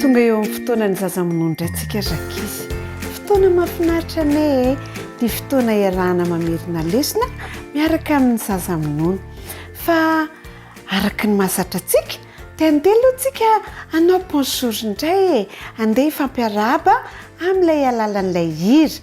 Tonga eo amin'ny fotoanan'ny zaza minoa indray tsika ry ankizy. Fotoana mahafinaritra anie e! Ity fotoana iarahana mamerina lesona miaraka amin'ny zaza minono. Fa araka ny mahazatra antsika dia handeha aloha tsika hanao bonjour indray e! Handeha hifampiarahaba amin'ilay alalan'ilay hira.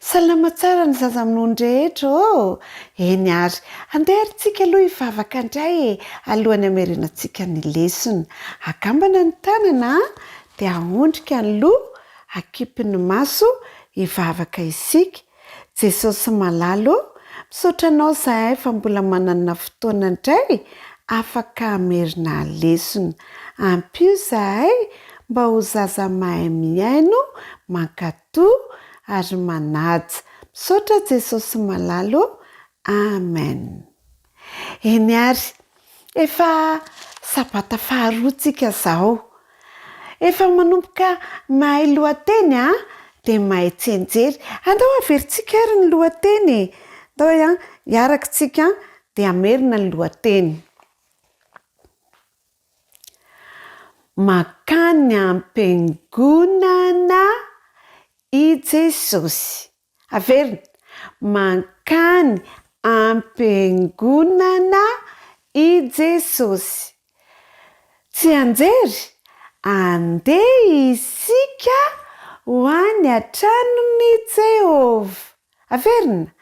Salama tsara ny zaza amin'ony rehetra ô! Eny ary, andeha ary tsika aloha hivavaka indray e, alohan'ny hamerenantsika ny lesona. Akambana ny tanana an, dia ahondrika ny loha, akipy ny maso, hivavaka isika. Jesosy malala ô, misaotra Anao izahay fa mbola manana fotoana indray afaka hamerina lesona. Ampio izahay mba ho zaza mahay mihaino, mankatò. to ary manaja misaotra Jesosy malala o Amen eny ary efa sabata faharoa tsika zao efa manomboka mahay lohateny a de mahay tsianjery andao averintsika ary ny lohateny e ndao a hiaraka tsika de hamerina ny lohateny. Mankany am-piangonana i Jesosy. Averina, Mankany am-piangonana i Jesosy. Tsianjery, Andeha isika ho any an-tranon'i Jehovah. Averina!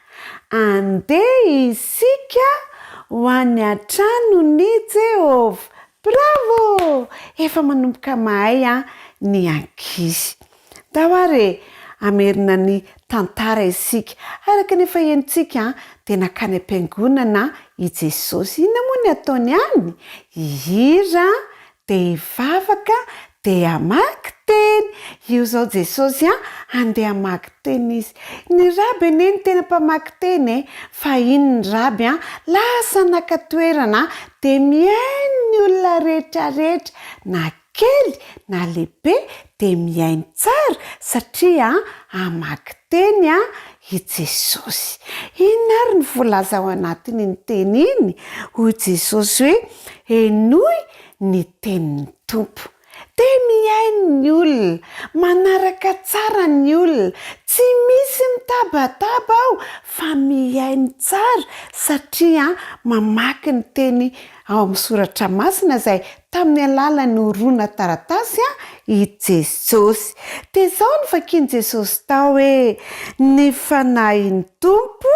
Andeha isika ho any an-tranon'i Jehovah! Bravo! Efa manomboka mahay an ny ankizy. Ndao ary e, hamerina ny tantara isika. Araka ny efa henontsika dia nankany am-piangonana i Jesosy. Inona moa ny ataony any? Hihira Dia hivavaka dia hamaky teny. Io izao Jesosy an, handeha hamaky teny izy. Ny raby anie no tena mpamaky teny e. Fa iny ny raby an, lasa naka toerana dia mihaino ny olona rehetra rehetra na kely na lehibe dia mihaino tsara satria hamaky teny i Jesosy. Inona ary no voalaza ao anatin'iny teny iny? Hoy Jesosy hoe, Henoy ny tenin'ny Tompo. Dia mihaino ny olona, manaraka tsara ny olona. Tsy misy mitabataba aho fa mihaino tsara satria mamaky ny teny ao amin'ny soratra masina izay tamin'ny alalan'ny horona taratasy i Jesosy. Dia izao no vakin'i Jesosy tao hoe, Ny fanahin'ny Tompo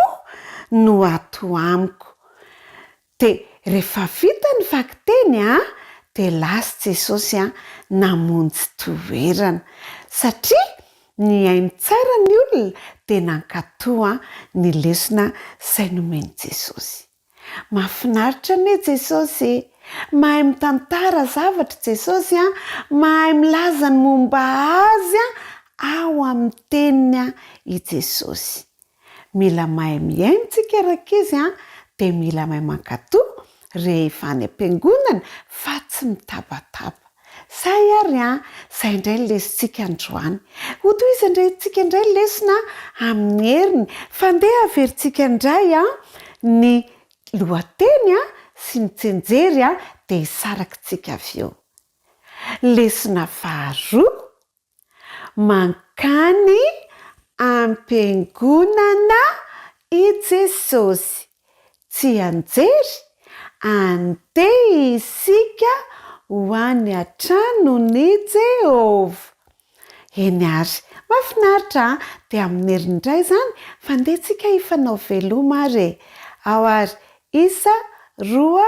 no ato amiko. Dia rehefa vita ny vakiteny dia lasa Jesosy namonjy toerana. Satria nihaino tsara ny olona dia nankatò ny lesona izay nomen'i Jesosy. Mafinaritra anie Jesosy e! Mahay mitantara zavatra Jesosy a! Mahay milaza ny momba Azy ao amin'ny Teniny i Jesosy. Mila mahay mihaino tsika rankizy a! Dia mila mahay mankatò rehefa any am-piangonana fa tsy mitabataba. Sahy ary an! Izay indray ny lesintsika androany. Hotohizan-dry antsika indray ny lesona amin'ny heriny. Fa andeha haverintsika indray an! ny lohateny an! sy ny tsenjery an! dia hisaraky tsika avy eo. Lesona faharoa. Mankany am-piangonana i Jesosy. Tsianjery, andeha isika ho any an-tranon'i Jehovah. Eny àry. Mahafinaritra an! Dia minery indray izany fa andeha tsika hifanao veloma ary e! Ao àry, isa, roa,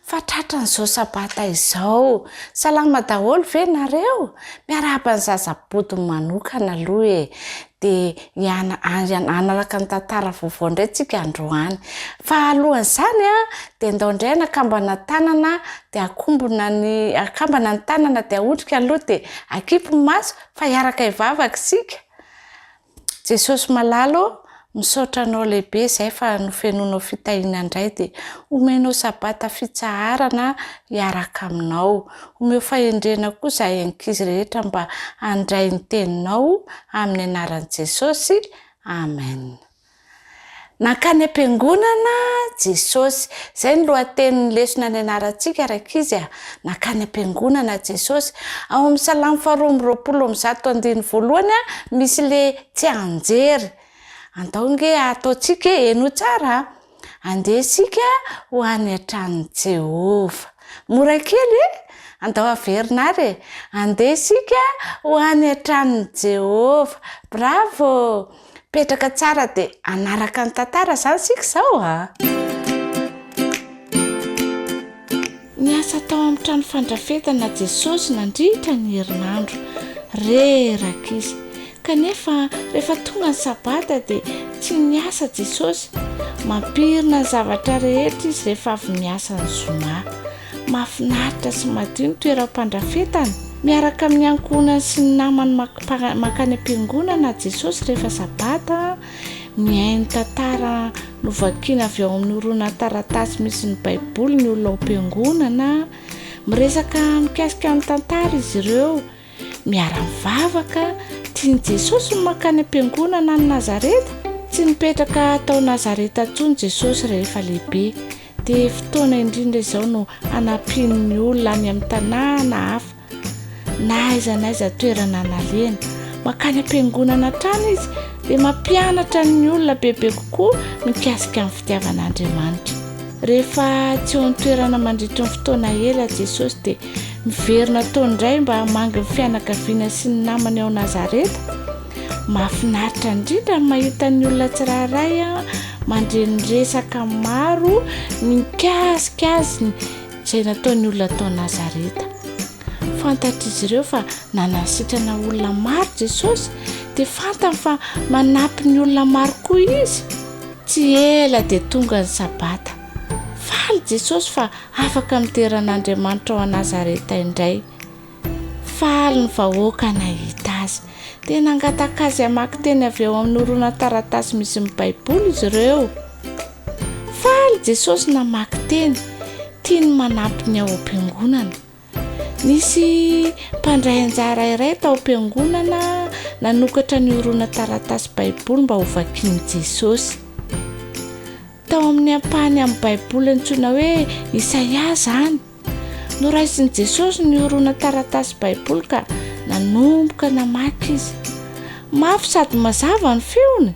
Fa tratran'izao sabata izao, salama daholo ve nareo? Miarahaba ny zaza bodiny manokana aloha e! Dia hiana hanaraka ny tantara vaovao indray tsika androany. Fa alohan'izany an, dia ndao indray ny akambana tanana dia akombona ny akambana ny tanana dia aondrika aloha dia akipy ny maso fa hiaraka hivavaka isika. Jesosy malala ô, misaotra anao lehibe izay fa nofenoinao fitahiana indray dia omenao sabata fitsaharana hiaraka aminao. Omeo fahendrena koa izahay ankizy rehetra mba handray ny teninao amin'ny anaran'i Jesosy. Amen. Nankany am-piangonana Jesosy. Izay no lohatenin'ny lesona nianarantsika rankizy a! Nankany am-piangonana Jesosy. Ao amin'ny Salamo faharoa amby roapolo amby zato andininy voalohany misy ilay tsianjery. Andao ange ataontsika hoe, henoy tsara a! Andeha isika ho any an-tranon'i Jehovah. Mora kely e! Andao averina àry e! Andeha isika ho any an-tranon'i Jehovah. Bravo! Petraka tsara dia hanaraka ny tantara izany isika izao a! Niasa tao amin'ny trano fandrafetana Jesosy nandritra ny herinandro. Reraka izy. Kanefa, rehefa tonga ny Sabata dia tsy niasa Jesosy. Mampirina ny zavatra rehetra izy rehefa avy miasa ny zoma. Mahafinaritra sy madio ny toeram-pandrafetana. Miaraka amin'ny ankohonany sy ny namany mankany am-piangonana Jesosy rehefa Sabata. Mihaino tantara novakina avy ao amin'ny horonan-taratasy misy ny Baiboly ny olona ao am-piangonana. Miresaka mikasika ny tantara izy ireo. Miara-mivavaka, tian'i Jesosy ny mankany am-piangonana any Nazareta. Tsy nipetraka tao Nazareta intsony Jesosy rehefa lehibe, dia fotoana indrindra izao no hanampiany ny olona any amin'ny tanàna hafa, na aiza na aiza toerana nalehany. Mankany am-piangonana hatrany izy, dia mampianatra ny olona bebe kokoa mikasika ny fitiavan'Andriamanitra. Rehefa tsy eo an-toerana mandritry ny fotoana ela Jesosy, dia Miverina ataony indray mba hamangy ny fianakaviana sy ny namany ao Nazareta. Mahafinaritra indrindra ny mahita ny olona tsirairay mandre ny resaka maro mikasika azy izay nataon'ny olona tao Nazareta. Fantatr'izy ireo fa nanasitrana olona maro Jesosy, dia fantany fa manampy ny olona maro koa izy. Tsy ela dia tonga ny Sabata. Faly Jesosy fa Afaka midera an'Andriamanitra ao an-Nazareta indray. Faly ny vahoaka nahita azy. Dia nangataka azy hamaky teny avy ao amin'ny horonan-taratasy misy ny Baiboly izy ireo. Faly Jesosy namaky teny. Tiany manampy ny ao am-piangonana. Nisy mpandray anjara iray tao am-piangonana nanokatra ny horonantaratasy Baiboly mba hovakian'i Jesosy. Tao amin'ny ampahany amin'ny Baiboly antsoina hoe Isaia izany. Noraisin'i Jesosy ny horonantaratasy Baiboly ka nanomboka namaky izy. Mafy sady mazava ny feony.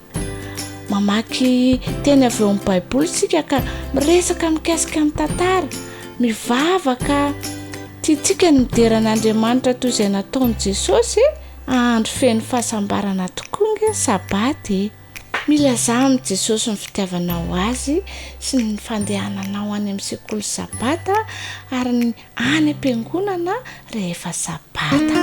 Mamaky teny avy ao amin'ny Baiboly isika ka miresaka mikasika ny tantara. Mivavaka tiantsika ny midera an'Andriamanitra toy izay nataon'i Jesosy andro feno fahasambarana tokoa ny Sabata e! Milazà amin'i Jesosy ny fitiavanao azy sy ny fandehananao any amin'ny sekoly Sabata ary ny any am-piangonana rehefa Sabata.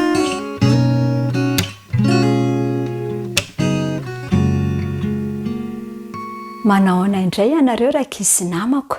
Manahoana indray ianareo rankizy sy namako?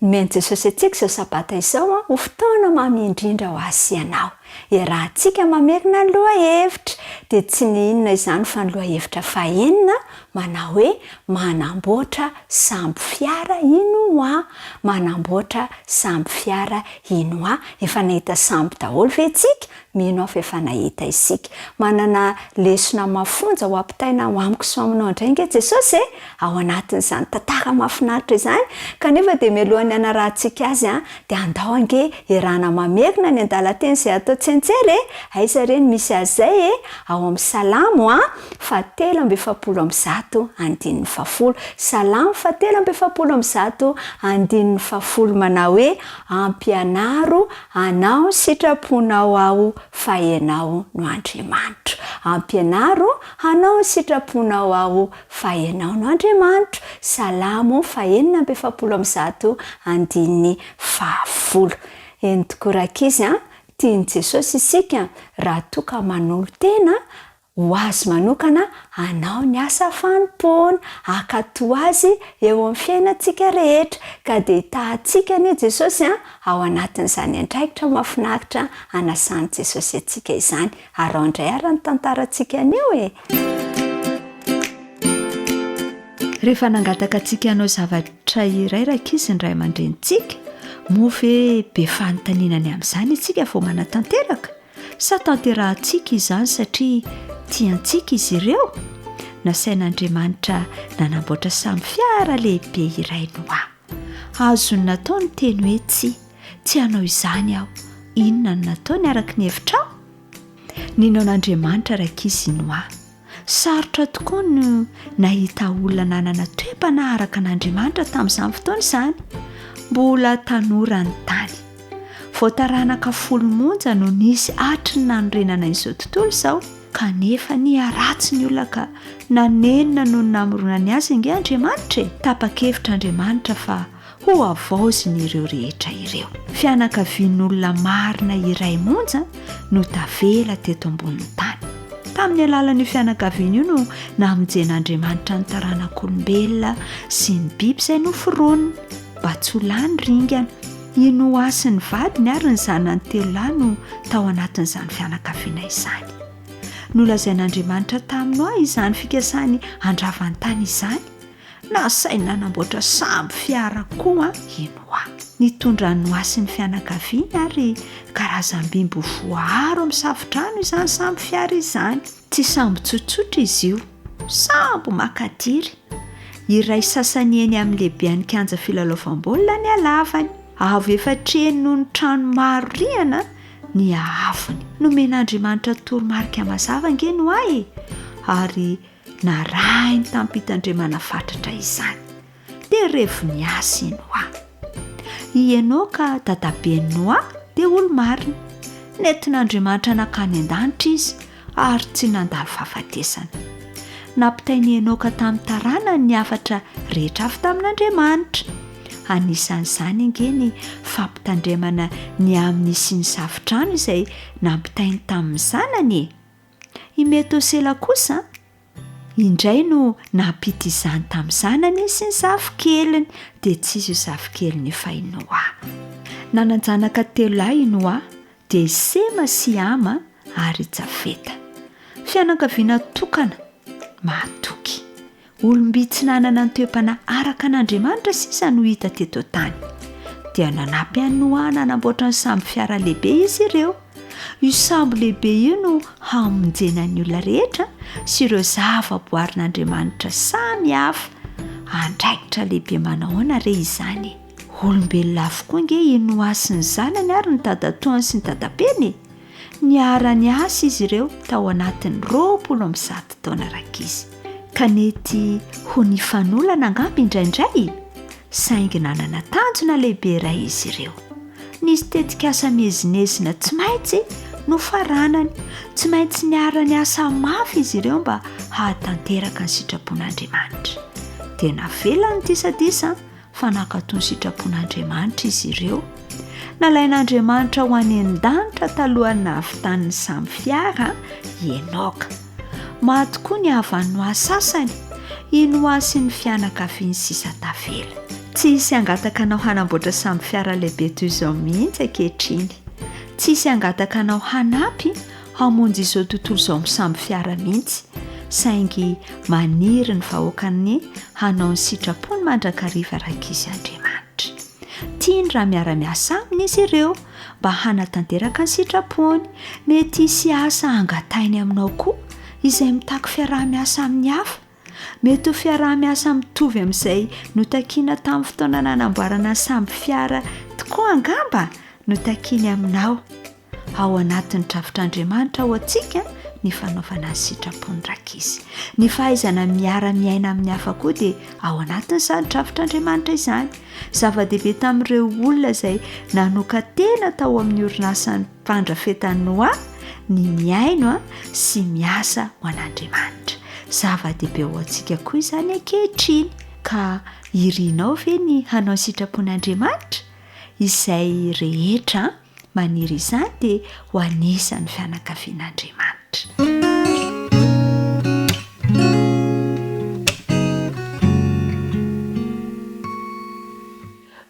Nomen'i Jesosy antsika izao Sabata izao ho fotoana mamy indrindra ho ahy sy ianao. Iarahantsika mamerina ny lohahevitra, dia tsy ny inona izany fa ny lohahevitra fahenina Manao hoe manamboatra sambo fiara ino oa? Manamboatra sambo fiara ino oa? Efa nahita sambo daholo ve tsika? Mino aho fa efa nahita isika. Manana lesona mafonja ho ampitaina ao amiko sy ao aminao indray ange Jesosy e! Ao anatin'izany tantara mahafinaritra izany, kanefa dia mialohan'ny hanarahantsika Azy De andao ange iarahana mamerina ny andalan-teny izay atao tsentsery e! Aiza re ny misy azy izay e! Ao amin'ny Salamo a, fahatelo amby efapolo amby zato, andininy fahafolo. Salamo fahatelo amby efapolo amby zato, andininy fahafolo manao hoe, Ampianaro hanao ny sitraponao aho fa ianao no Andriamanitro. Ampianaro hanao ny sitraponao aho Fahenao no Andriamanitro, Salamo fahenina amby efapolo amby zato, andininy fahafolo. Eny tokoa rankizy a, tian'i Jesosy isika raha toa ka manolo-tena ho Azy manokana hanao ny asa fanompoana, hankatò Azy eo amin'ny fiainantsika rehetra. Ka dia hitahantsika anie Jesosy a, ao anatin'izany andraikitra mahafinaritra anasan'i Jesosy antsika izany. Araho indray ara ny tantarantsika anio e! Rehefa nangataka antsika hanao zavatra iray rankizy ny ray aman-drenintsika, moa ve be fanontaniana ny amin'izany isika vao manatanteraka? Sa tanterahintsika izany satria tiantsika izy ireo? Nasain'Andriamanitra nanamboatra samy fiara lehibe iray Noa. Azony natao ny teny hoe tsia. Tsy hanao izany aho. Inona no nataony araka ny hevitrao? Nino an'Andriamanitra Raiki Sinoa. Sarotra tokoa ny nahita olona nanana toe-panaraka an'Andriamanitra tamin'izany fotoana izany. Mbola tanora ny tany. Vao taranaka folo monja no nisy hatry ny nanorenana izao tontolo izao, kanefa niharatsy ny olona ka nanenina noho ny namoronany azy ange Andriamanitra e! Tapa-kevitra Andriamanitra fa Hohavaozin'ireo rehetra ireo. Fianakavian'olona marina iray monja no tavela teto ambonin'ny tany. Tamin'ny alalan'io fianakaviana io no namonjen'Andriamanitra ny taranak'olombelona sy ny biby izay noforoniny, mba tsy ho lany ringana. I Noa sy ny vadiny ary ny zanany telo lahy no tao anatin'izany fianakaviana izany. Nolazain'Andriamanitra tamin'i Noa izany fikasany handrava ny tany izany. Nasainy nanamboatra sambo fiara koa i Noa. Nitondra an'i Noa sy ny fianakaviany ary karazam-biby voaaro amin'ny safo-drano izany sambo fiara izany. Tsy sambo tsotsotra izy io, sambo maka diry. Iray sasany eny amin'ny lehibean'ny kianja filalaovam-baolina ny halavany. Avo efatr'eny noho ny trano maro rihana ny haavony. Nomen'Andriamanitra toromarika mazava ange Noa e, ary Narahiny tamim-pitandremana fatratra izany. Dia revo ny asa i Noa. I Enoka dadaben'i Noa dia olo-marina. Nentin'Andriamanitra nankany an-danitra izy ary tsy nandalo fahafatesana. Nampitain'i Enoka tamin'ny taranany ny hafatra rehetra avy tamin'Andriamanitra. Anisan'izany ange ny fampitandremana ny amin'ny hisian'ny safotrano izay nampitainy tamin'ny zanany e! I Metosela kosa indray no nampita izany tamin'ny zanany sy ny zafikeliny, dia tsy izy io zafikeliny io fa i Noa. Nanan-janaka telo lahy i Noa, dia i Sema sy Hama ary i Jafeta. Fianakaviana tokana, mahatoky. Olom-by tsy nanana ny toe-panahy araka an'Andriamanitra sisa no hita teto an-tany. Dia nanampy an'i Noa nanamboatra ny sambo fiara lehibe izy ireo. Io sambo lehibe io no hamonjena ny olona rehetra sy ireo zavaboarin'Andriamanitra samy hafa. Andraikitra lehibe manahoana re izany? Olombelona avokoa ange i Noa sy ny zanany ary ny dadatoany sy ny dadaben'ny? Niara-niasa izy ireo tao anatin'ny roapolo amby zato taona rankizy, ka nety ho nifanolana angamba indraindray, saingy nanana tanjona lehibe iray izy ireo. Nisy tetikasa miezinezina tsy maintsy nofaranany, tsy maintsy niara-niasa mafy izy ireo mba hahatanteraka ny sitrapon'Andriamanitra. Dia navelany disadisa fa nankato ny sitrapon'Andriamanitra izy ireo. Nalain'Andriamanitra ho any an-danitra talohan'ny nahavitan'ny samy fiara i Enoka. Maty tokoa ny havan'ny Noa sasany, i Noa sy ny fianakaviany sisa tavela. Tsy hisy hangataka anao hanamboatra samy fiara lehibe toy izao mihitsy ankehitriny. Tsy hisy hangataka anao hanampy Hamonjy izao tontolo izao misambo fiara mihitsy, saingy maniry ny vahoakany hanao ny sitrapony mandrakariva Rankizy Andriamanitra. Tiany raha miara-miasa aminy izy ireo mba hanatanteraka ny sitrapony. Mety hisy asa hangatainy aminao koa izay mitaky fiaraha-miasa amin'ny hafa. Mety ho fiaraha-miasa mitovy amin'izay notakiana tamin'ny fotoana nanamboarana ny sambo fiara tokoa angamba no takiany aminao. Ao anatin'ny drafitr'Andriamanitra ho antsika ny fanaovana ny sitrapony rankizy. Ny fahaizana miara-miaina amin'ny hafa koa dia ao anatin'izany drafitr'Andriamanitra izany. Zava-dehibe tamin'ireo olona izay nanokan-tena tao amin'ny orinasan'ny mpandrafetan'ny noa ny mihaino sy miasa ho an'Andriamanitra. Zava-dehibe ho antsika koa izany ankehitriny. Ka irinao ve ny hanao ny sitrapon'Andriamanitra izay rehetra? Maniry izany dia ho anisan'ny fianakavian'Andriamanitra.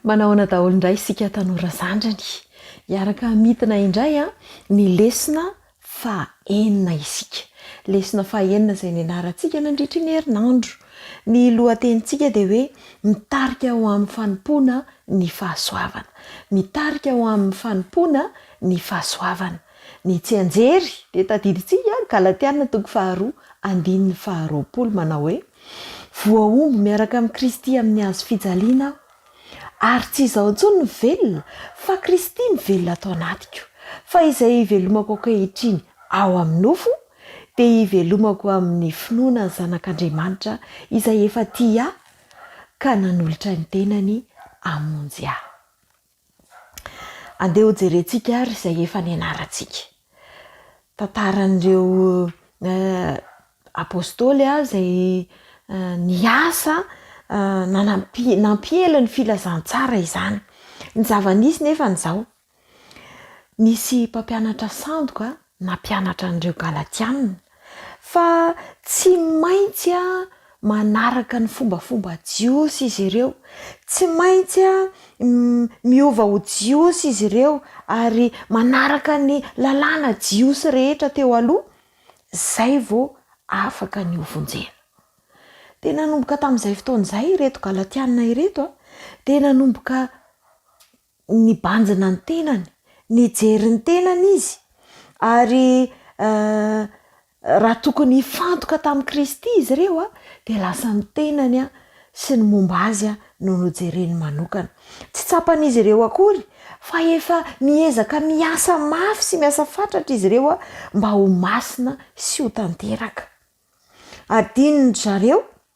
Manahoana daholo indray isika tanora zandriny? Hiaraka hamintina indray ny lesona Fahenina isika. Lesona fahenina izay nianarantsika nandritra ny herinandro. Ny lohatenintsika dia hoe Mitarika ho amin'ny Fanompoana ny Fahasoavana. Mitarika ho amin'ny Fanompoana ny Fahasoavana. Ny tsianjery dia tadidintsika Galatiana toko faharoa andininy faharoapolo manao hoe, Voahombo miaraka amin'i Kristy amin'ny hazo fijaliana aho. Ary tsy izaho intsony no velona, fa Kristy mivelona ato anatiko. Fa izay ivelomako ankehitriny ao amin'ny nofo, dia ivelomako amin'ny finoana ny Zanak'Andriamanitra izay efa tia ahy ka nanolotra ny tenany hamonjy ahy. Andeha hojerentsika ary izay efa nianarantsika. tantaran'ireo Apôstôly izay niasa nanampi- nampiely ny filazantsara izany. Ny zava-nisy nefany izao, nisy mpampianatra sandoka nampianatra an'ireo Galatiana, Fa tsy maintsy manaraka ny fombafomba jiosy izy ireo. Tsy maintsy miova ho jiosy izy ireo ary manaraka ny lalàna jiosy rehetra teo aloha, izay vao afaka ny hovonjena. Dia nanomboka tamin'izay fotoana izay ireto Galatiana ireto dia nanomboka Nibanjina ny tenany, nijery ny tenany izy, ary raha tokony hifantoka tamin'i Kristy izy ireo dia lasa ny tenany sy ny momba azy no nojereny manokana. Tsy tsapan'izy ireo akory fa efa miezaka miasa mafy sy miasa fatratra izy ireo mba ho masina sy ho tanteraka. Adinondry zareo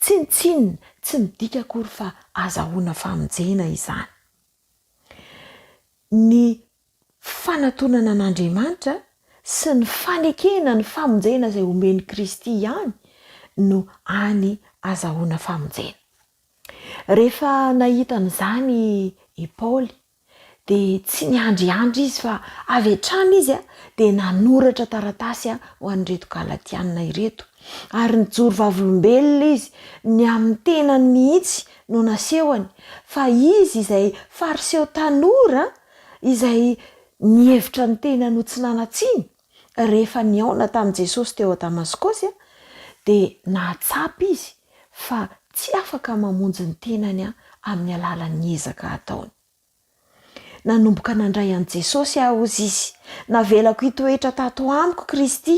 Tsinontsinona, tsy midika akory fa azahoana famonjena izany. Ny fanatonana an'Andriamanitra sy ny fanekena ny famonjena izay omen'i Kristy ihany no hany azahoana famonjena. Rehefa nahita an'izany i Paoly Dia tsy niandriandry izy fa avy hatrany izy dia nanoratra taratasy ho an'ireto Galatiana ireto. Ary nijoro vavolombelona izy, ny amin'ny tenany mihitsy no nasehony, fa izy izay Fariseo tanora izay nihevitra ny tenany ho tsy nanan-tsiny, Rehefa nihaona tamin'i Jesosy teo Damaskosy, dia nahatsapa izy fa tsy afaka mamonjy ny tenany amin'ny alalan'ny ezaka ataony. Nanomboka nandray an'i Jesosy aho, hozy izy. Navelako hitoetra tato amiko Kristy,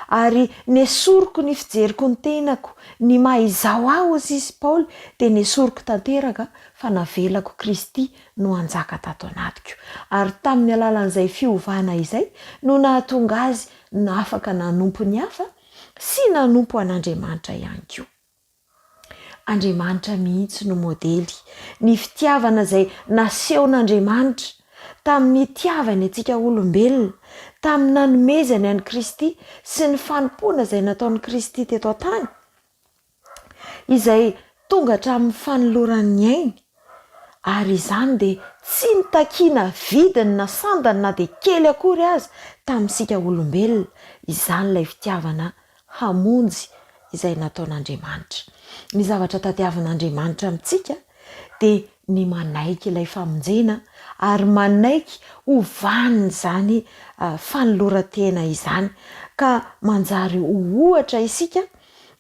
ary nesoriko ny fijeriko ny tenako. Ny maha izaho ahy, hozy izy, Paoly, dia nesoriko tanteraka fa navelako Kristy no hanjaka tato anatiko, ary tamin'ny alalan'izay fiovana izay no nahatonga azy nafaka nanompo ny hafa sy nanompo an'Andriamanitra ihany koa. Andriamanitra mihitsy no modely, ny fitiavana izay nasehon'Andriamanitra tamin'ny nitiavany antsika olombelona, tamin'ny nanomezany an'i Kristy sy ny fanompoana izay nataon'i Kristy teto an-tany, izay tonga hatramin'ny fanoloran'ny ainy, ary izany dia tsy nitakiana vidiny na sandany na dia kely akory aza tamintsika olombelona, izany ilay fitiavana hamonjy izay nataon'Andriamanitra. Ny zavatra tadiavin'Andriamanitra amintsika dia ny manaiky ilay famonjena ary manaiky ho vanin'izany fanoloran-tena izany, ka manjary ho ohatra isika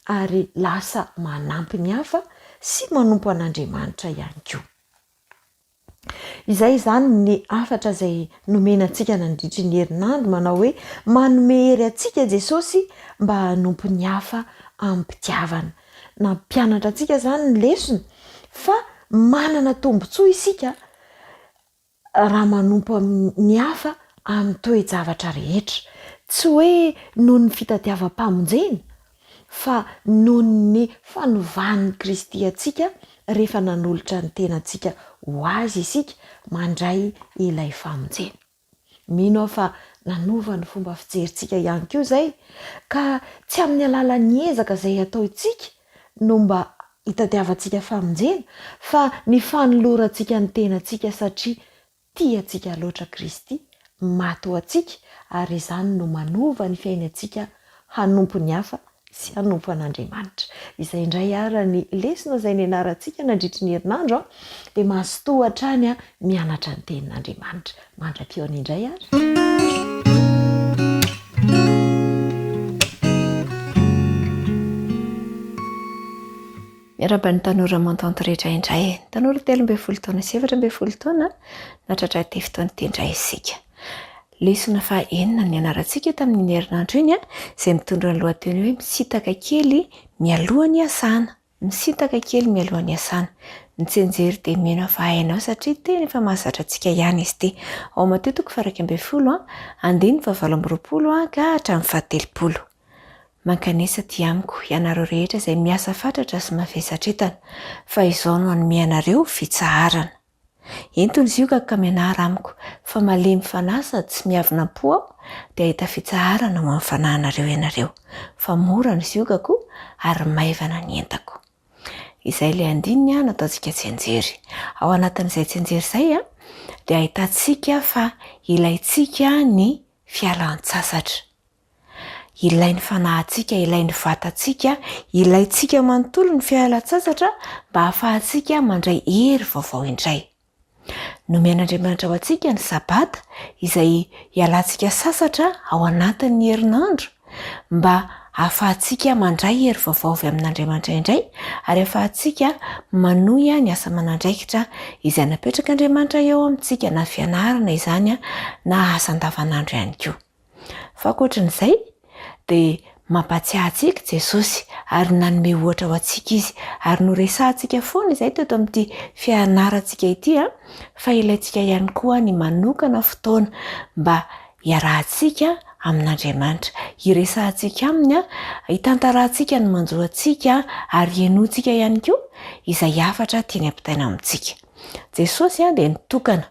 ary lasa manampy ny hafa sy manompo an'Andriamanitra ihany koa. Izay izany ny hafatra izay nomena antsika nandritry ny herinandro manao hoe manome hery antsika Jesosy mba hanompo ny hafa amim-pitiavana. Nampianatra antsika izany ny lesona fa manana tombontsoa isika raha manompo amin'ny ny hafa amin'ny toe-javatra rehetra, tsy hoe noho ny fitadiavam-pamonjena, fa noho ny fanovan'i Kristy antsika rehefa nanolotra ny tenantsika ho Azy isika mandray ilay famonjena. Mino aho fa nanova ny fomba fijerintsika ihany koa izay, ka tsy amin'ny alalan'ny ezaka izay ataontsika no mba hitadiavantsika famonjena fa ny fanolorantsika ny tenantsika satria tia antsika loatra Kristy maty ho antsika ary izany no manova ny fiainantsika hanompo ny hafa sy hanompo an'Andriamanitra. Izay indray ara ny lesona izay nianarantsika nandritry ny herinandro dia mazotoa hatrany mianatra ny tenin'Andriamanitra. Mandra-pihaona indray ary. Miarahaba ny tanora Montant rehetra indray. Ny tanora telo ambin'ny folo taona sy efatra ambin'ny folo taona natratra ity fotoana ity indray isika. Lesona faha enina ny nianarantsika tamin'iny herinandro iny izay mitondra ny lohateny hoe misitaka kely mialoha ny hasana. Misintaka kely mialoha ny hiasana. Ny tsianjery dia mino hafa hainao satria tena efa mahazatra antsika ihany izy ity. Ao Mateo toko fahairaika ambin'ny folo, andininy fahavalo amby roapolo ka hatramin'ny fahatelopolo. Mankanesa aty amiko, ianareo rehetra izay miasa fatratra sy mavesatra entana, fa izao no hanome anareo fitsaharana. Ento ny ziokako ka mianara amiko, fa malemy fanahy sady tsy miavona am-po aho, dia hahita fitsaharana ho amin'ny fanahinareo ianareo, fa mora ny ziokako ary maivana ny entako. Izay ilay andininy nataontsika tsianjery. Ao anatin'izay tsianjery izay dia ahitantsika fa ilaintsika ny fialan-tsasatra. Ilay ny fanahintsika, ilay ny vatantsika, ilaintsika manontolo ny fialan-tsasatra mba hahafahantsika mandray hery vaovao indray. Nomen'Andriamanitra ho antsika ny sabata izay ialantsika sasatra ao anatin'ny herinandro mba hahafahantsika mandray hery vaovao avy amin'Andriamanitra indray ary hahafahantsika manohy ny asa manandraikitra izay napetrak'Andriamanitra eo amintsika na fianarana izany na asa andavanandro ihany koa. Fa ankoatran'izay, dia mampahatsiahy antsika i Jesosy ary nanome ohatra ho antsika izy. Ary noresahantsika foana izay teto amin'ity fianarantsika ity, fa ilaintsika ihany koa ny manokana fotoana mba hiarahantsika amin'Andriamanitra. Hiresahantsika aminy, hitantarahantsika ny manjo antsika, ary henointsika ihany koa izay hafatra tiany hampitaina amintsika. Jesosy dia nitokana.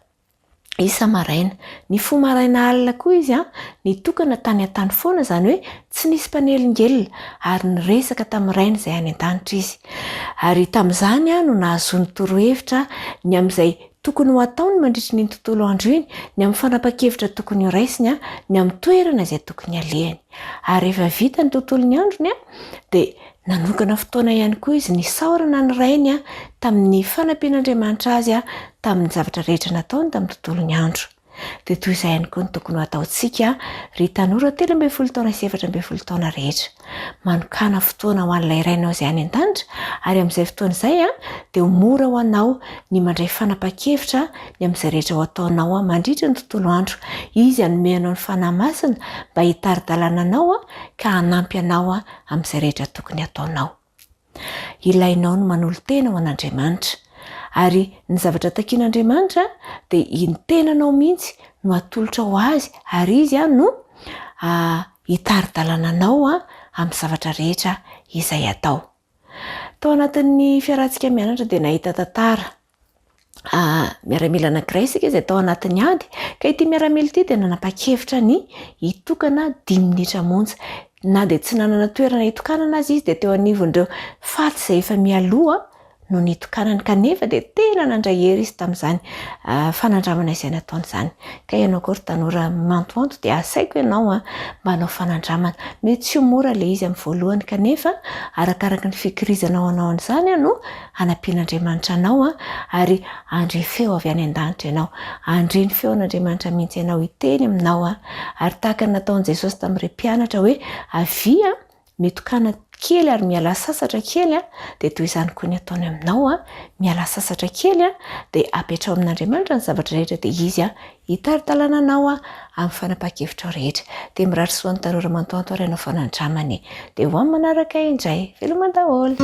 isa-maraina. Nifoha maraina alina koa izy an, nitokana tany an-tany foana izany hoe tsy nisy mpanelingelina ary niresaka tamin'ny Rainy izay any an-danitra izy. Ary tamin'izany no nahazoany torohevitra ny amin'izay tokony ho ataony mandritry ny iny tontolo andro iny, ny amin'ny fanapan-kevitra tokony ho raisiny, ny amin'ny toerana izay tokony halehany. Ary rehefa vita ny tontolon'ny androny dia Nanokana fotoana ihany koa izy nisaorana ny Rainy tamin'ny fanampian'Andriamanitra azy tamin'ny zavatra rehetra nataony tamin'ny tontolon'ny andro. Dia toy izay ihany koa no tokony ho ataontsika, ry tanora telo ambin'ny folo taona sy efatra ambin'ny folo taona rehetra. Manokàna fotoana ho an'ilay Rainao izay any an-danitra, ary amin'izay fotoana izay dia ho mora ho anao ny mandray fanapahan-kevitra ny amin'izay rehetra ho ataonao mandritra ny tontolo andro. Izy hanome anao ny Fanahy Masina mba hitari-dalana anao ka hanampy anao amin'izay rehetra tokony hataonao. Ilainao ny manolo-tena ho an'Andriamanitra, ary ny zavatra takin'Andriamanitra dia iny tenanao mihitsy no atolotra ho Azy, ary Izy no hitari-dalana anao amin'ny zavatra rehetra izay atao. Tao anatin'ny fiarahantsika mianatra dia nahita tantara Ah, miaramila anankiray isika izay tao anatin'ny ady, ka ity miaramila ity dia nanapa-kevitra ny hitokana dimy minitra monja. Na dia tsy nanana toerana hitokanana aza izy dia teo anivon'ireo faty izay efa mialoha no nitokanany, kanefa dia tena nandray hery izy tamin'izany ah, fanandramana izay nataony izany. Ka ianao koa ry tanora miantoanto dia asaiko ianao ah, mba hanao fanandramana. Mety tsy ho mora ilay izy amin'ny voalohany, kanefa arakaraky ny fikirizanao hanao an'izany no hanampian'Andriamanitra anao an, ary handre feo avy any an-danitra ianao. Handre ny feon'Andriamanitra mihitsy ianao hiteny aminao an, ary tahaka ny nataon'i Jesosy tamin'ireo mpianatra hoe avia an, mitokana kely ary mialà sasatra kely an, dia toy izany koa ny ataony aminao an, mialà sasatra kely an, dia apetraho amin'Andriamanitra ny zavatra rehetra dia Izy Hitari-dalana anao aho amin'ny fanapahan-kevitrao rehetra. Dia mirary soa ny tanora mantoanto ary ianao foana andramana e. Dia ho amin'ny manaraka indray. Veloma daholo.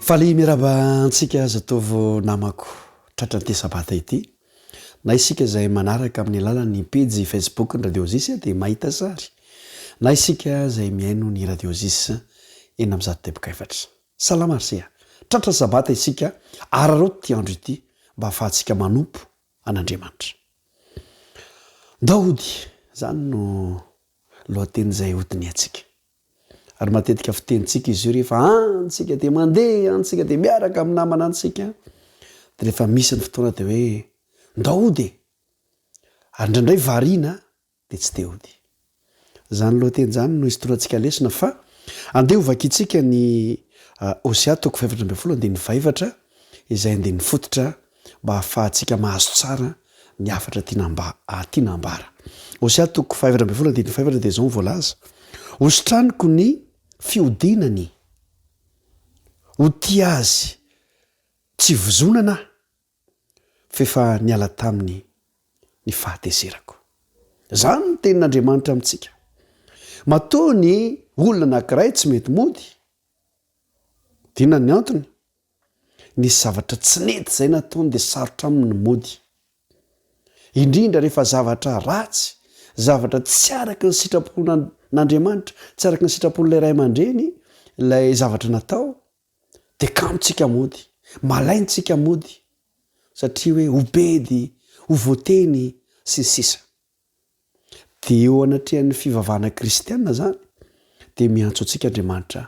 Faly miarahaba antsika zatovo namako tratran'ity sabata ity. Na isika izay manaraka amin'ny alalan'ny pejy Facebook ny Radio Zis dia mahita sary. Na isika izay mihaino ny Radio Zis enina amby zato teboka efatra. Salama ry Sea. Tratra Sabata isika, araraoty ity andro ity mba hahafahantsika manompo an'Andriamanitra. Daody, izany no lohateny izay hodinihantsika. Ary matetika fitenintsika izy io rehefa any tsika dia mandeha any tsika dia miaraka amin'ny namana antsika dia rehefa misy ny fotoana dia hoe ndao hody e ary indraindray variana dia tsy te hody izany lohateny izany no hisotorantsika lesona fa andeha hovakintsika ny Hosea toko fahefatra ambin'ny folo andininy fahefatra izay andininy fototra mba hahafahantsika mahazo tsara ny hafatra tiana mba tiana hambara. Hosea toko fahefatra ambin'ny folo andininy fahefatra dia izao ny voalaza, hositraniko ny fihodinany, ho tia azy tsy vozonana aho, f'efa niala taminy ny fahatezerako. Izany ny tenin'Andriamanitra amintsika. Matoa ny olona anankiray tsy mety mody, inona ny antony? Nisy zavatra tsy nety izay nataony dia sarotra aminy ny mody. Indrindra rehefa zavatra ratsy, zavatra tsy araka ny sitrapon'Andriamanitra, tsy araka ny sitrapon'ilay ray aman-dreny ilay zavatra natao, dia kamotsika mody, malaintsika mody, satria hoe ho bedy, ho voateny, sy ny sisa. Dia eo anatrehan'ny fivavahana kristiana izany dia miantso antsika Andriamanitra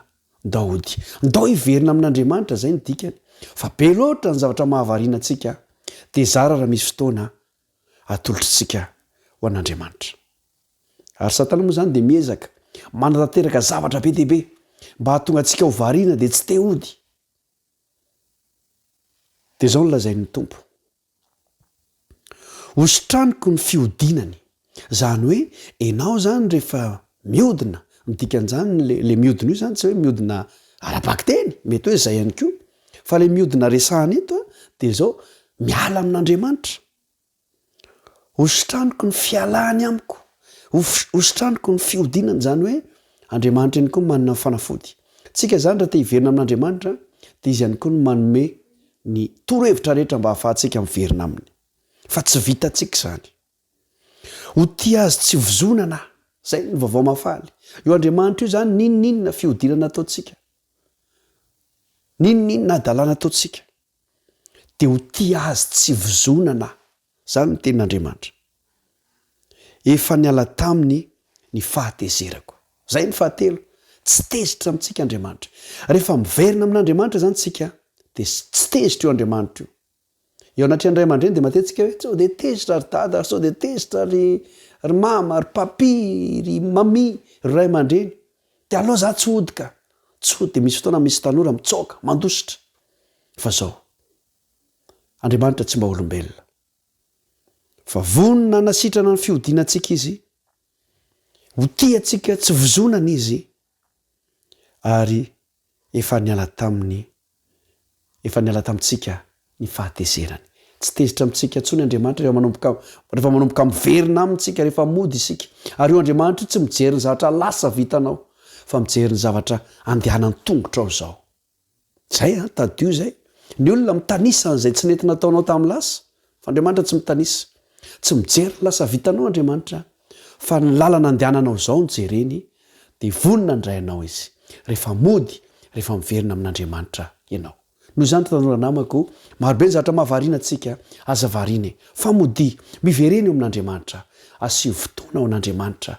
Daody. Ndao hiverina amin'Andriamanitra, izay no dikany. Fa be loatra ny zavatra mahavariana antsika, dia zara raha misy fotoana atolotr'tsika ho an'Andriamanitra. Ary Satana moa izany dia miezaka manatanteraka zavatra be dia be mba hahatonga antsika ho variana dia tsy te hody. Dia izao no lazain'ny Tompo. Hositraniko ny fihodinany. Zany hoe enao zany refa miodina, ny dikan'zany le le miodina io zany tsy hoe miodina ara-bakiteny, mety hoe zay ihany koa, fa le miodina resahana eto de zao, miala amin'Andriamanitra. Hositraniko ny fialany amiko, hof- hositraniko ny fihodinany zany hoe Andriamanitra ihany koa no manana ny fanafody. Tsika zany ra te hiverina amin'Andriamanitra de izy ihany koa no manome ny torohevitra rehetra mba hahafahantsika miverina Aminy. Fa tsy vitantsika izany. Ho tia Azy tsy hovozonana. Izay no Vaovao Mahafaly. Io Andriamanitra io izany, n'inon'inona fihodinana ataontsika, n'inon'inona hadalana ataontsika, dia ho tia Azy tsy hovozonana. Izany no tenin'Andriamanitra. Efa niala taminy ny fahatezerako. Izay ny fahatelo, tsy tezitra amintsika Andriamanitra. Rehefa miverina amin'Andriamanitra izany isika dia tsy tezitra io Andriamanitra io. Eo anatrehan'ny ray aman-dreny dia matetika hoe sao dia tezitra ry dada, sao dia tezitra ry ry mama, ry papi, ry mami, ry ray aman-dreny. Dia aleo izaho tsy hody ka. Tsy hody. Dia misy fotoana misy tanora mitsaoka, mandositra. Fa izao. Andriamanitra tsy mba olombelona. Fa vonona hanasitrana ny fihodinantsika Izy, ho tia antsika tsy vozonana Izy, ary efa niala taminy, efa niala tamintsika ny fahatezerany. Tsy tezitra amintsika intsony Andriamanitra rehefa manomboka, rehefa manomboka miverina aminy isika, rehefa mody isika. Ary io Andriamanitra io tsy mijery ny zavatra lasa vitanao, fa mijery ny zavatra andehanan'ny tongotrao izao. Zay an, tadidio zay. Ny olona mitanisa an'izay tsy nety nataonao tamin'ny lasa, fa Andriamanitra tsy mitanisa. Tsy mijery ny lasa vitanao Andriamanitra, fa ny lalana andehananao izao no jereny, dia vonona handray anao Izy, rehefa mody, rehefa miverina amin'Andriamanitra ianao. Noho izany ry tanora namako, marobe ny zavatra mahavariana antsika, aza variana e! Fa modia, miverena eo amin'Andriamanitra, asio fotoana ho an'Andriamanitra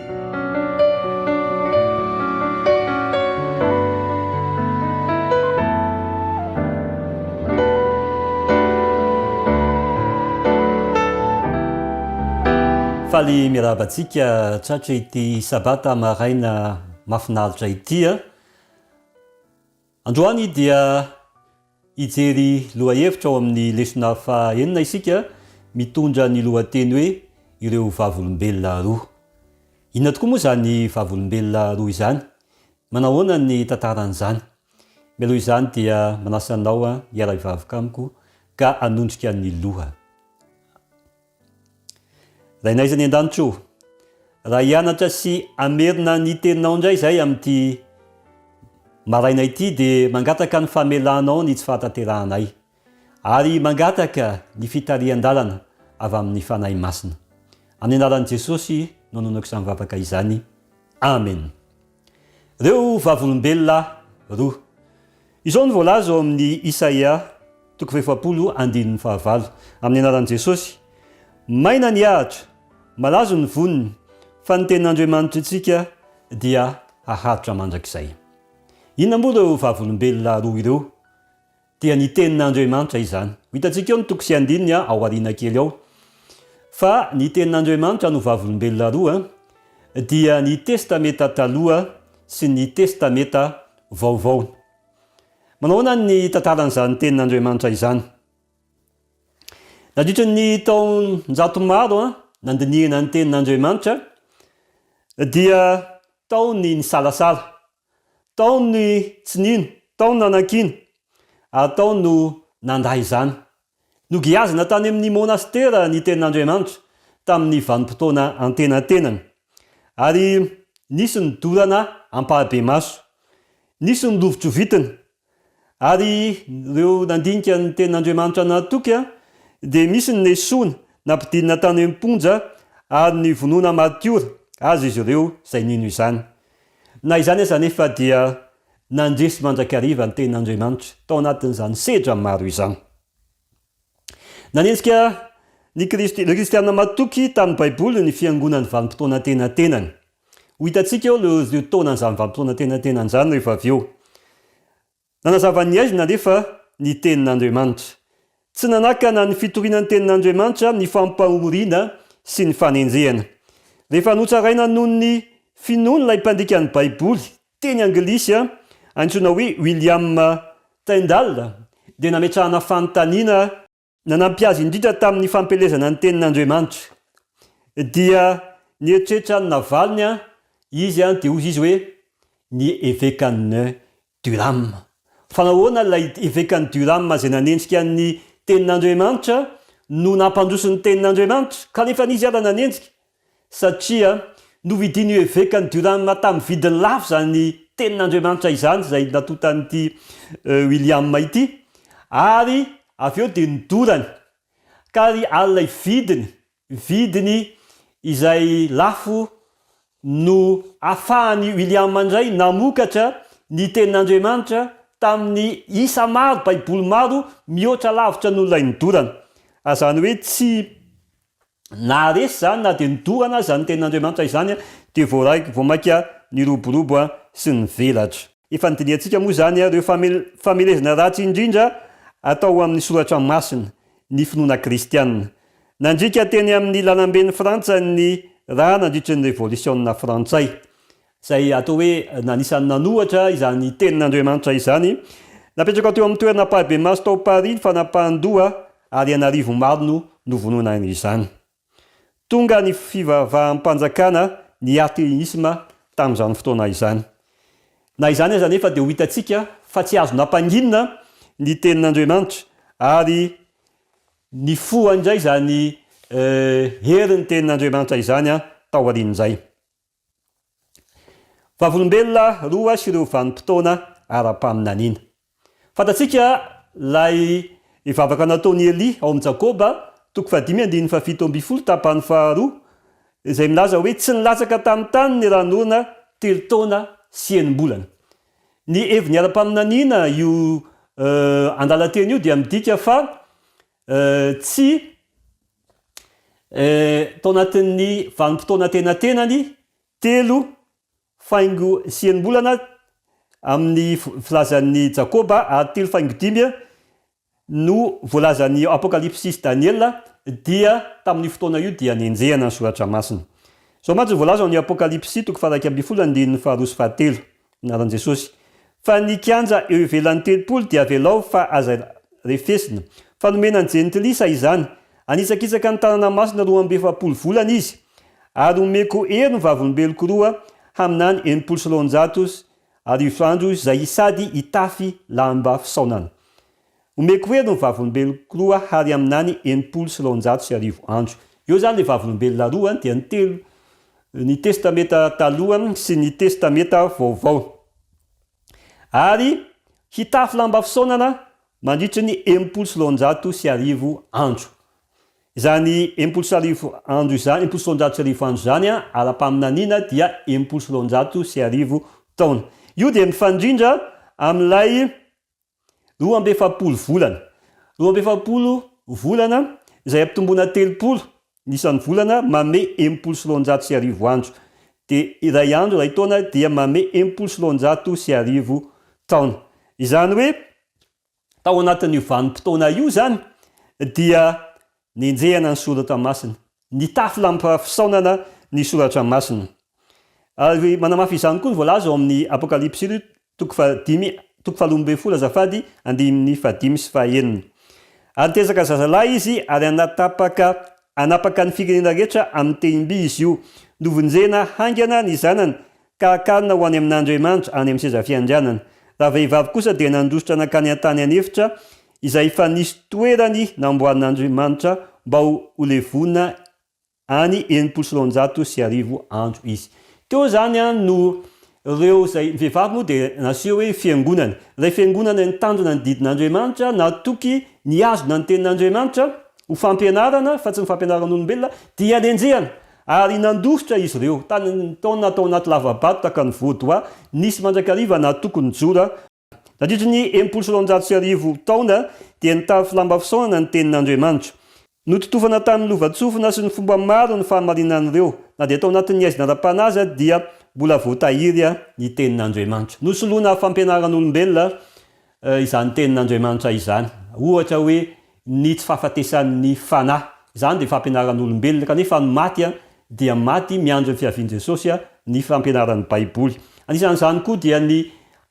Faly miarahaba antsika tratra ity sabata maraina mahafinaritra ity a! Androany dia hijery lohahevitra ao amin'ny lesona faha enina isika mitondra ny lohateny hoe Ireo Vavolombelona Roa. Inona tokoa moa izany Vavolombelona roa izany? Manahoana ny tantaran'izany? Mialoha izany dia manasa anao hiara-hivavaka amiko ka hanondrika ny loha. Rainay izay any an-danitra o! Raha hianatra sy hamerina ny Teninao indray izahay amin'ity maraina ity dia mangataka ny famelanao ny tsy fahatanterahanay ary mangataka ny fitarihan-dalana avy amin'ny Fanahy Masina. Amin'ny anaran'i Jesosy no nonoko izany vavaka izany. Amen. Ireo vavolombelona roa. Izao no voalaza ao amin'ny Isaia toko fahefapolo andininy fahavalo, Amin'ny anaran'i Jesosy, maina ny ahitra, malazo ny voniny, fa ny Tenin'Andriamanitritsika dia haharitra mandrakizay. Inona moa ireo vavolombelona roa ireo? dia ny Tenin'Andriamanitra izany. Ho hitantsika eo ny toko sy andininy ao aoriana kely ao. Fa ny Tenin'Andriamanitra no vavolombelona roa dia ny Testamenta Taloha sy ny Testamenta Vaovao. Manao ahoana ny tantaran'izany Tenin'Andriamanitra izany? Nandritry ny taon-jato maro nandinihana ny Tenin'Andriamanitra dia tao ny nisalasala. Tao ny tsy nino, tao ny nanakiana, ary tao no nandà izany. Nogiazina tany amin'ny monastera ny Tenin'Andriamanitra tamin'ny vanim-potoana antenatenany, ary nisy ny dorana ampahibemaso, nisy ny lovitrovitina Ary ireo nandinika ny tenin'Andriamanitra nahatoky dia misy ny nesoina, nampidinina tany am-ponja ary nivonoina martiora aza izy ireo izay nino izany. Na izany aza anefa dia nandresy mandrakariva ny tenin'Andriamanitra tao anatin'izany sedra maro izany. Nanenjika ny Kristy, ireo Kristiana matoky tamin'ny Baiboly ny Fiangonan'ny Vanimpotoana Antenatenany. Ho hitantsika eo ireo taonan'izany Vanimpotoana Antenatenany izany rehefa avy eo. Nanazava ny aizina anefa ny Tenin'Andriamanitra. Tsy nanakana ny fitoriana ny Tenin'Andriamanitra ny fampahoriana sy ny fanenjehana. Rehefa notsaraina noho ny finoany ilay mpandika ny Baiboly Teny anglisy antsoina hoe William Tyndall dia nametrahana fanontaniana nanampy azy indrindra tamin'ny fampielezana ny Tenin'Andriamanitra. Dia nieritreritra ny navaliny izy dia hoy izy hoe, Ny evekan'i Durham. Fa nahoana ilay evekan'i Durham izay nanenjika ny Tenin'Andriamanitra no nampandroso ny Tenin'Andriamanitra, kanefa izy ary nanenjika? satria novidin'io evekan'i Durham tamin'ny vidiny lafo izany Tenin'Andriamanitra izany izay natontan'ity William ity, ary avy eo dia nodorany, ka ry alina vidiny, vidiny izay lafo no afahan'i William indray namokatra ny Tenin'Andriamanitra tamin'ny isa maro, Baiboly maro mihoatra lavitra noho ilay nodorana. Azany hoe tsy. Na resy izany na dia nodorana aza ny tenin'Andriamanitra izany dia voaraiko, vao mainka niroborobo sy nivelatra. Efa nodinihantsika moa izany ireo famelezana ratsy indrindra atao ho amin'ny Soratra Masina, ny finoana kristiana. Nandriaka teny amin'ny lalamben'i Frantsa ny ra nandritry ny Revolisiona Frantsay. izay atao hoe na anisan'ny nanohatra izany Tenin'Andriamanitra izany. Napetraka teo amin'ny toerana ampahibemaso tao Paris ny fanapahan-doha ary an'arivo maro no novonoina izany. Tonga ny fivavaham-panjakana ny atheisme tamin'izany fotoana izany. Na izany aza anefa dia ho hitantsika fa tsy azo nampanginina ny Tenin'Andriamanitra ary nifoha indray izany herin'ny Tenin'Andriamanitra izany taorian'izay. Vavolombelona roa sy ireo vanim-potoana ara-paminaniana. Fantatsika ilay vavaka nataon'i Elia ao amin'ny Jakoba, toko fahadimy andininy fahafito ambin'ny folo, tapany faharoa, izay milaza hoe tsy nilatsaka tamin'ny tany ny ran'orana telo taona sy enim-bolana. Ny heviny ara-paminaniana io andalan-teny io dia midika fa Tsy tao anatin'ny vanim-potoana antenatenany telo faingo sy enim-bolana amin'ny filazan'i Jakoba ary telo faingo dimy no voalazan'ny Apokalypsy sy Daniela dia tamin'io fotoana io dia nenjehana ny Soratra Masina. Izao mantsy no voalaza ao amin'ny Apokalypsy toko faha-iraika ambin'ny folo andininy faharoa sy fahatelo. Anaran'i Jesosy. Fa ny kianja eo ivelan'ny tempoly dia avelao fa aza refesina. Fa nomena ny jentilisa izany. Hanitsakitsaka ny tanana masina roa amby efapolo volana izy, ary homeko hery ny vavolombeloko roa haminany enimpolo sy roanjato sy arivo andro izay sady hitafy lamba fisaonana. Omeko hery ny vavolombeloko roa hary aminany enimpolo sy roanjato sy arivo andro. Eo zany le vavolombelona roa dia ny telo ny testameta taloha sy ny testameta vaovao. Ary hitafy lamba fisaonana mandritry ny enimpolo sy roanjato sy arivo andro. Izany enimpolo sy arivo andro izany, enimpolo sy roanjato sy arivo andro izany an, ara-paminaniana dia enimpolo sy roanjato sy arivo taona. Io dia mifandrindra amin'ilay Roa amby efapolo volana. Roa amby efapolo volana izay ampitomboina telopolo ny isan'ny volana mame enimpolo sy roanjato sy arivo andro. Dia iray andro iray taona dia mame enimpolo sy roanjato sy arivo taona. Izany hoe tao anatin'io vanim-potoana io izany dia Nenjehana ny soratra masina. Nitafy lamba fisaonana ny soratra masina. Ary manamafy izany koa ny voalaza ao amin'ny Apokalypsy ry toko fahadimy toko faharoa ambin'ny folo azafady andininy fahadimy sy fahaenina. Ary nitezaka zazalahy izy ary hanatapaka hanapaka ny firenena rehetra amin'ny tehim-by izy io. Novonjena haingana ny zanany ka hakanina ho any amin'Andriamanitra, any amin'ny seza fiandrianany. Raha vehivavy kosa dia nandositra nankany an-tany an'efitra, izay efa nisy toerany namboarin'Andriamanitra mba ho levona any enimpolo sy roanjato sy arivo andro izy. Teo izany no ireo izay vehivavy moa dia naseho hoe fiangonana. Ilay fiangonana nitandrina ny didin'Andriamanitra, natoky nihazona ny tenin'Andriamanitra ho fampianarana fa tsy ny fampianaran'olombelona, dia nenjehana Ary nandositra izy ireo. Tany amin'ny taona tao anaty lava-bato tahaka ny Vaudois, nisy mandrakariva nahatoky ny Jora. Nandritry ny enimpolo sy roanjato sy arivo taona, dia nitafy lamba fisaonana ny Tenin'Andriamanitra. Nototofana tamin'ny lovantsofina sy ny fomba maro ny fahamarinan'ireo. Na dia tao anatin'ny haizina ara-panahy aza, dia mbola voatahiry ny Tenin'Andriamanitra. Nosoloina fampianaran'olombelona izany tenin'Andriamanitra izany. Ohatra hoe ny tsy fahafatesan'ny fanahy. Izany dia fampianaran'olombelona, kanefa ny maty dia maty miandry ny fiavian'i Jesosy, ny fampianaran'ny Baiboly. Anisan'izany koa dia ny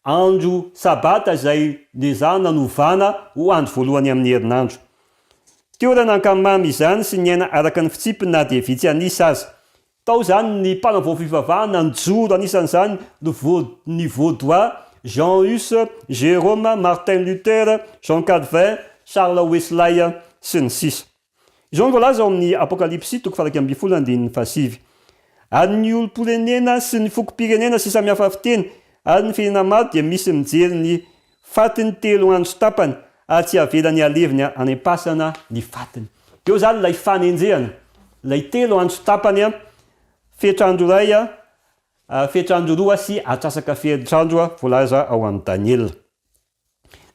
andro sabata izay noezahana novana ho andro voalohany amin'ny herinandro. Tiorana ankamamy izany sy ny aina araka ny fitsipiny na dia vitsy an'isa aza. Tao izany ny mpanavao fivavahana nijoro anisan'izany ny ny Vaudois, Jean Hus, Jérôme, Martin Luther, Jean Calvin, Charles Weslay, sy ny sisa Izao no voalaza ao amin'ny Apokalypsy toko faha-iraika ambin'ny folo andininy fahasivy Ary ny olom-pirenena sy ny fokom-pirenena sy samy hafa fiteny ary ny firenena maro dia misy mijery ny Fatiny telo andro tapany ary tsy avelany halevina any am-pasana ny fatiny. Eo izany ilay fanenjehana, ilay telo andro tapany, fetr'andro iray, fetr'andro roa sy atrasaka fetr'andro voalaza ao amin'i Daniela.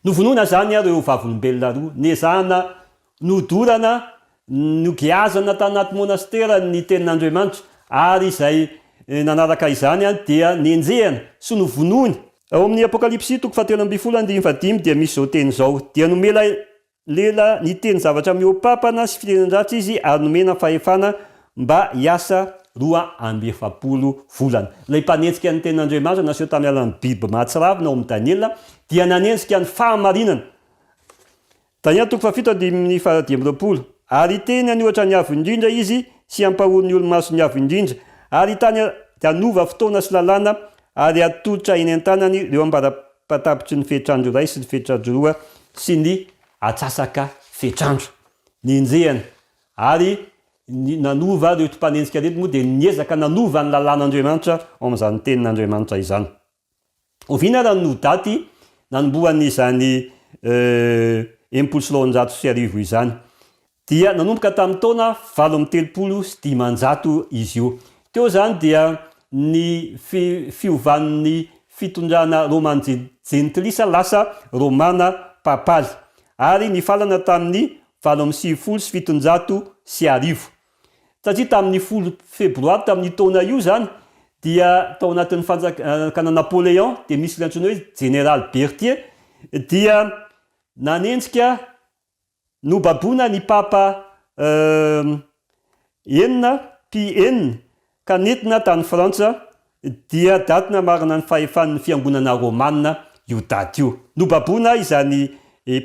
Novonoina izany ireo vavolombelona roa, nezahana Nodorana, nogiazana tanaty monastera ny Tenin'Andriamanitra, ary izay nanaraka izany dia nenjehana sy novonoiny. Ao amin'ny Apokalypsy toko fahatelo ambin'ny folo andininy fahadimy dia misy izao teny izao, Dia nomela lela niteny zavatra mihoa-pampana sy fitenin-dratsy izy ary nomena fahefana mba hiasa roa amby efapolo volana. Ilay mpanenjika ny Tenin'Andriamanitra naseho tamin'ny alalan'ny biby mahatsiravina ao amin'ny Daniela dia nanenjika ny fahamarinana. Daniela toko fahafito andininy fahadimy amby roapolo Ary hiteny any ohatra ny Avo Indrindra izy, sy hampahory ny olo-maso ny Avo Indrindra, ary hitany ary hanova fotoana sy lalàna, ary hatolotra eny an-tanany ireo ambarapatapitry ny fehitr'andro iray sy ny fehitr'andro roa sy ny atsasaka fehitr'andro. Nenjehana ary ny nanova ireo mpanenjika ireny moa dia niezaka nanova ny lalàn'Andriamanitra ao amin'izany tenin'Andriamanitra izany. Oviana ary no daty nanombohany izany enimpolo sy roanjato sy arivo izany? Dia nanomboka tamin'ny taona valo amby telopolo sy dimanjato izy io. Teo izany dia ny fiovan'ny fitondrana Romano-Jentilisa lasa Romana Papaly, ary nifalana tamin'ny valo amby sivifolo sy fitonjato sy arivo. Satria tamin'ny folo febroary tamin'io taona io izany dia tao anatin'ny fanjakana Napoléon dia misy ilay antsoina hoe Jeneraly Berthier dia nanenjika nobaboina ny Papa enina, Pie enina, ka nentina tany Frantsa, dia daty namarana ny fahefan'ny Fiangonana Rômana io daty io. Nobaboina izany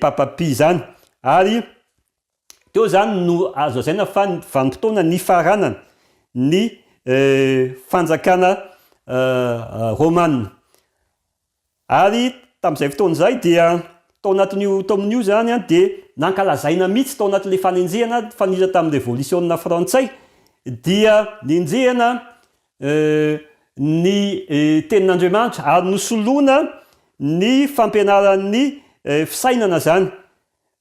Papa Pie izany ary Teo izany no azo lazaina fa vanim-potoana nifaranany ny fanjakana romana. Ary tamin'izay fotoana izay dia tao anatin'io taomin'io izany dia nankalazaina mihitsy tao anatin'ilay fanenjehana nifanila tamin'ny revolisiona frantsay dia nenjehina ny tenin'Andriamanitra ary nosoloina ny fampianaran'ny fisainana izany.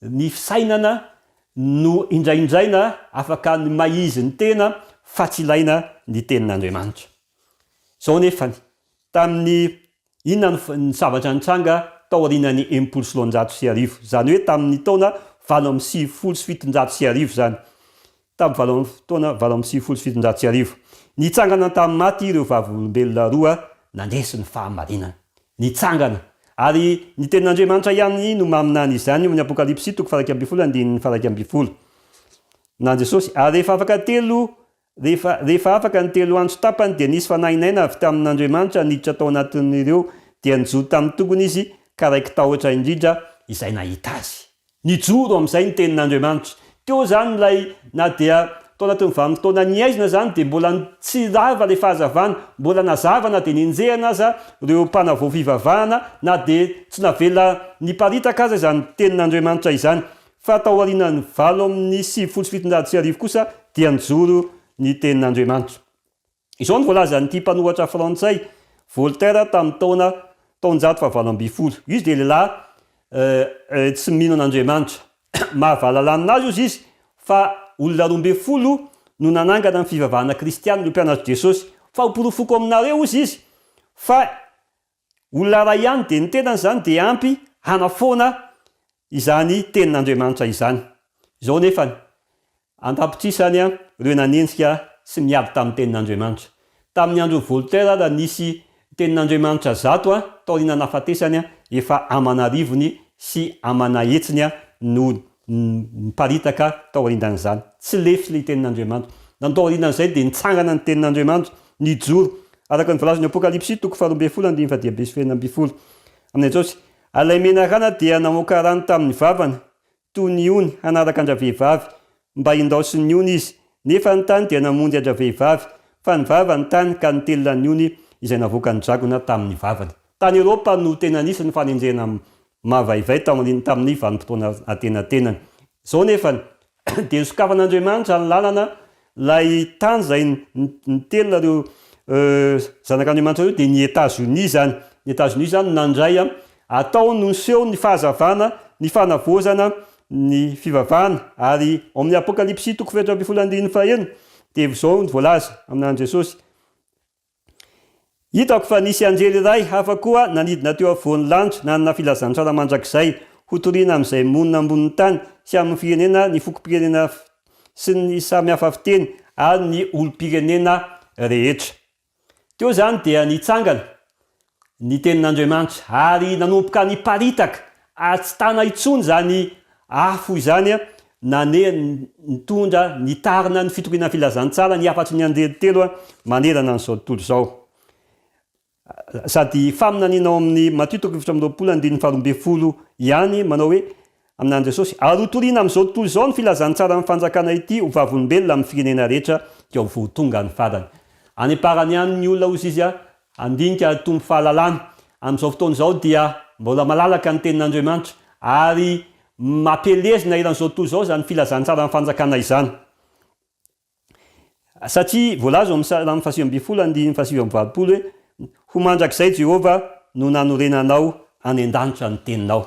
Ny fisainana no indraindraina afaka ny maizy ny tena fa tsy ilaina ny tenin'Andriamanitra. Izao anefany, tamin'ny inona ny zavatra nitranga taorianan'ny enimpolo sy roanjato sy arivo, izany hoe tamin'ny taona valo amby sivifolo sy fitonjato sy arivo izany, Tamin'ny valo amby taona valo amby sivifolo sy fitonjato sy arivo, nitsangana tamin'ny maty ireo Vavolombelona roa nandresy ny fahamarinana. Nitsangana! Ary ny Tenin'Andriamanitra ihany no maminany izany, ao amin'ny Apokalypsy toko faha iraika ambin'ny folo andininy faha iraika ambin'ny folo. Na Jesosy. Ary rehefa afaka telo, rehefa, rehefa afaka ny telo andro tapany, dia nisy fanahy naina avy tamin'Andriamanitra niditra tao anatin'ireo, dia nijoro tamin'ny tongony izy, ka raiki-tahotra indrindra izay nahita azy. Nijoro amin'izay ny Tenin'Andriamanitra. Teo izany ilay, na dia tao anatin'ny vanin-taona nihaizina izany, dia mbola tsy rava ilay fahazavana, mbola nazava na dia nenjehina aza ireo mpanavao fivavahana, na dia tsy navela niparitaka aza izany Tenin'Andriamanitra izany. Fa tao aorianan'ny valo amby sivifolo sy fitonjato sy arivo kosa dia nijoro ny Tenin'Andriamanitra. Izao no voalazan'ity mpanohatra frantsay, Voltaire tamin'ny taona taonjato fahavalo ambin'ny folo. Izy dia lehilahy tsy mino an'Andriamanitra. Mahavalalanina azy hozy izy fa olona roa ambin'ny folo no nanangana ny fivavahana kristianina io mpianatr'i Jesosy. Famporofoako aminareo, hozy izy, fa Olona iray ihany dia ny tenany izany dia ampy hanafoana izany tenin'Andriamanitra izany. Izao anefa ny an-tapitrisany ireo nanenjika sy niady tamin'ny tenin'Andriamanitra. Tamin'ny andron'i Voltaire aza nisy tenin'Andriamanitra zato taoriana nahafatesany efa aman'arivony sy aman'ahetsiny no Niparitaka taorian'izany tsy lefy ny tenin'Andriamanitra. Nanao taorian'izay dia nitsangana ny tenin'Andriamanitra, nijoro, araka ny voalazan'ny Apokalypsy toko faharoa ambin'ny folo andininy fahadimy sy fahenina ambin'ny folo, amin'i Jesosy. Ary ilay menarana dia namoaka rano tamin'ny vavany, toy ny ony, hanaraka an-dravehivavy, mba hindaosin'ny ony izy. Nefa ny tany dia namonjy an-dravehivavy, fa ny vava ny tany ka nitelina ny ony izay navoakan'ny dragona tamin'ny vavany. Tany Eropa no tena nisy ny fanenjehana mavaivay taorian'ny tamin'ny vanim-potoana antenatenany. Izao anefa dia sokafan'Andriamanitra ny lalana, ilay tany izay nitelina ireo zanak'Andriamanitra ireo dia ny Etazonia izany, ny Etazonia izany no nandray an, atao no niseho ny fahazavana, ny fanavaozana ny fivavahana, ary ao amin'ny Apokalypsy toko fahefatra ambin'ny folo andininy fahaenina dia izao no voalaza aminà an'i Jesosy, Hitako fa nisy anjely iray hafa koa nanidina teo afovoan'ny lanitra nanana filazantsara mandrakizay hotorina amin'izay monina ambonin'ny tany sy amin'ny firenena, ny fokom-pirenena sy ny samy hafa fiteny ary ny olom-pirenena rehetra. Teo izany dia nitsangana ny Tenin'Andriamanitra, ary nanomboka niparitaka, ary tsy tana intsony izany afo izany, nane, nitondra, nitarina ny fitoriana ny Filazantsara, ny hafatry ny anjely telo manerana an'izao tontolo izao. Sady faminaniana ao amin'ny Matio toko efatra amby roapolo andininy faharoa ambin'ny folo ihany manao hoe, Amin'Andry Jesosy. Ary ho toriana amin'izao tontolo izao ny filazantsaran'ny Fanjakana ity ho vavolombelona amin'ny firenena rehetra dia ho tonga ny farany. Any am-parany ihany ny olona, hozy izy, handinika ary hitombo fahalalana. Amin'izao fotoana izao dia mbola malalaka ny Tenin'Andriamanitra ary mampielezina eran'izao tontolo izao izany filazantsaran'ny Fanjakana izany. Satria voalaza ao amin'ny Salamo fahasivy ambin'ny folo andininy fahasivy amby valopolo hoe, Ho mandrakizay Jehovah no nanorenanao any an-danitra ny teninao.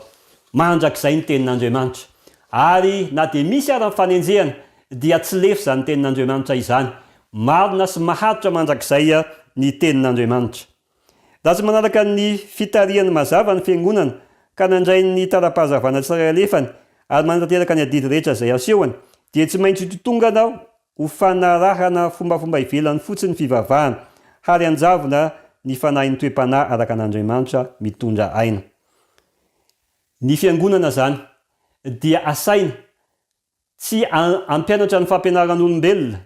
Mandrakizay ny tenin'Andriamanitra. Ary na dia misy ara ny fanenjehana dia tsy lefy izany tenin'Andriamanitra izany. Marina sy maharitra mandrakizay ny tenin'Andriamanitra. Raha tsy manaraka ny fitarihany mazava ny fiangonana ka nandray ny tara-pahazavana tsirairay alefany ary manatanteraka ny adidy rehetra izay asehony, dia tsy maintsy hitotongana ho fanarahana fombafomba ivelany fotsiny ny fivavahana, hary hanjavona ny fanahin'ny toe-panahy araka an'Andriamanitra mitondra aina. Ny fiangonana izany dia asaina tsy hampianatra ny fampianaran'olombelona,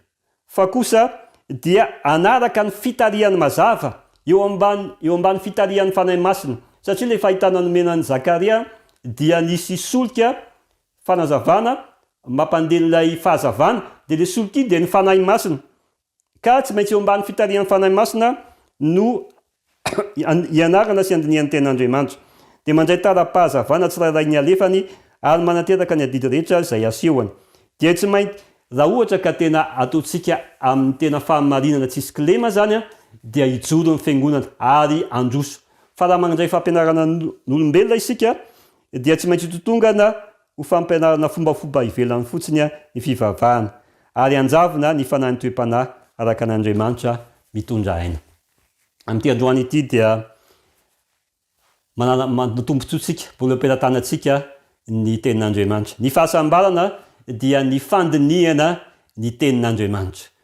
fa kosa dia hanaraka ny fitarihany mazava, eo ambany, eo ambany fitarihan'ny Fanahy Masina. Satria ilay fahitana nomena an'i Zakaria dia nisy solika, fanazavana, mampandeha ilay fahazavana, dia ilay solika iny dia ny Fanahy Masina. Ka tsy maintsy eo ambany fitarihan'ny Fanahy Masina no hianarana sy handinihany tena Andriamanitra. Dia mandray tara-pahazavana tsirairay ny alefany ary manateraka ny adidy rehetra izay asehony. Dia tsy maintsy. Raha ohatra ka tena ataontsika amin'ny tena fahamarinana tsisy kilema izany dia hijoro ny Fiangonana ary handroso. Fa raha mandray fampianarana n'olombelona isika dia tsy maintsy hitotongana Ho fampianarana fombafomba ivelany fotsiny ny fivavahana, ary hanjavona ny fanahin'ny toe-panahy araka an' Andriamanitra mitondra aina. Amin'ity androany ity dia manana ny tombontsoantsika, vola am-pelatanantsika ny Tenin'Andriamanitra. Ny fahasambarana dia ny fandinihana ny Tenin'Andriamanitra.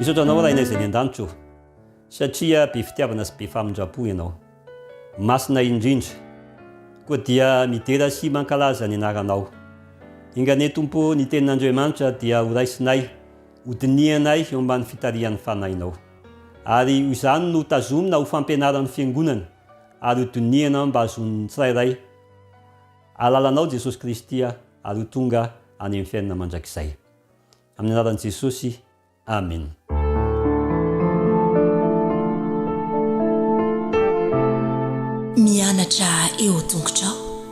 Misaotra anao Rainay izay any an-danitra o, satria be fitiavana sy be famindram-po ianao. Masina indrindra. Koa dia midera sy mankalaza ny anaranao. Enga anie Tompo o, ny tenin'Andriamanitra dia horaisinay Hodinihanay eo ambany fitarihan'ny Fanahinao. Ary ho izany no hotazomina ho fampianaran'ny Fiangonana ary ho dinihana mba hahazoan'ny tsirairay alalanao Jesosy Kristy ary ho tonga any amin'ny fiainana mandrakizay. Amin'ny anaran'i Jesosy, Amena. Mianatra eo an-tongotrao.